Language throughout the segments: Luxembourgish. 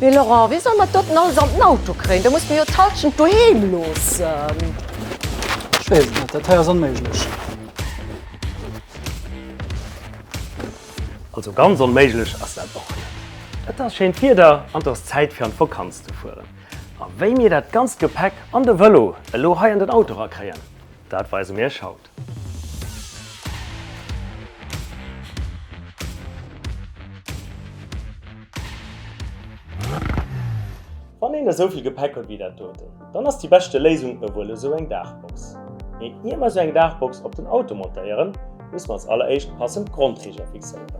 Mee Laurent, wéi solle mer d'Doten alles an den Auto kréien? Da musse mer jo d'Halschent doheem loossen. Ech weess et net, dat hei ass onméiglech. Also ganz onméiglech ass dat och net. Et ass schéint Wieder an et ass Zäit fir an d'Vakanz ze fueren. A wéi mir dat ganzt Gepäck an de Vëlo elo hei an den Auto erakréien, dat weise mir iech haut. Wann een esou vill Gepäck huet wéi dat doten, dann ass déi beschte Léisung ewuel esou eng Daachbox. Mee ier mer esou eng Daachbox op den Auto montéieren, musse mer als alleréischt passend Grondriger fixéieren.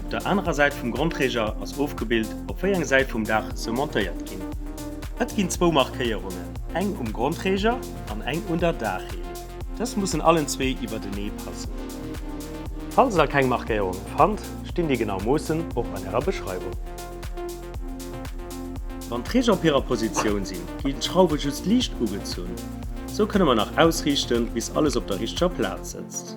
Op der anerer Säit vum Grondreger ass ofgebild, op wéi eng Säit vum Daach se montéiert ginn. Et ginn zwou Markéierungen, eng um Grondreger an eng un der Daachreling. Dës mussen allen zwee iwwertenee passen. Falls der keng Markéierungen fannt, stinn déi genau Moossen och an ärer Beschreiwung. Wann d'Reger op hirer Positioun sinn, ginn d'Schrauwe just liicht ugezunn. Sou kënne mer nach ausriichten, bis alles op der richteger Plaz sëtzt.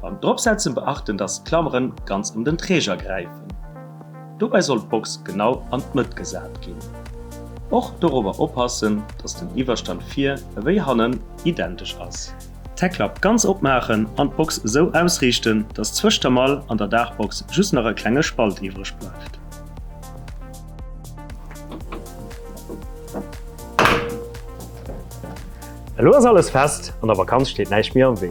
Beim Dropsetzen beachten dass d'Klameren ganz ëm den Träger gräifen. Dobäi soll d'Box genau an d'Mëtt gesat ginn. Och dorobber oppassen dass den Iwwerstand vir ewéi hannen identesch ass. D'Heckklapp ganz opmaachen an d'Box esou ausriichten dass zwëscht der Mall an der Daachbox just nach e klenge Spalt iwwreg bleift. Elo ass alles fest, an der Vakanz steet näischt méi am Wee.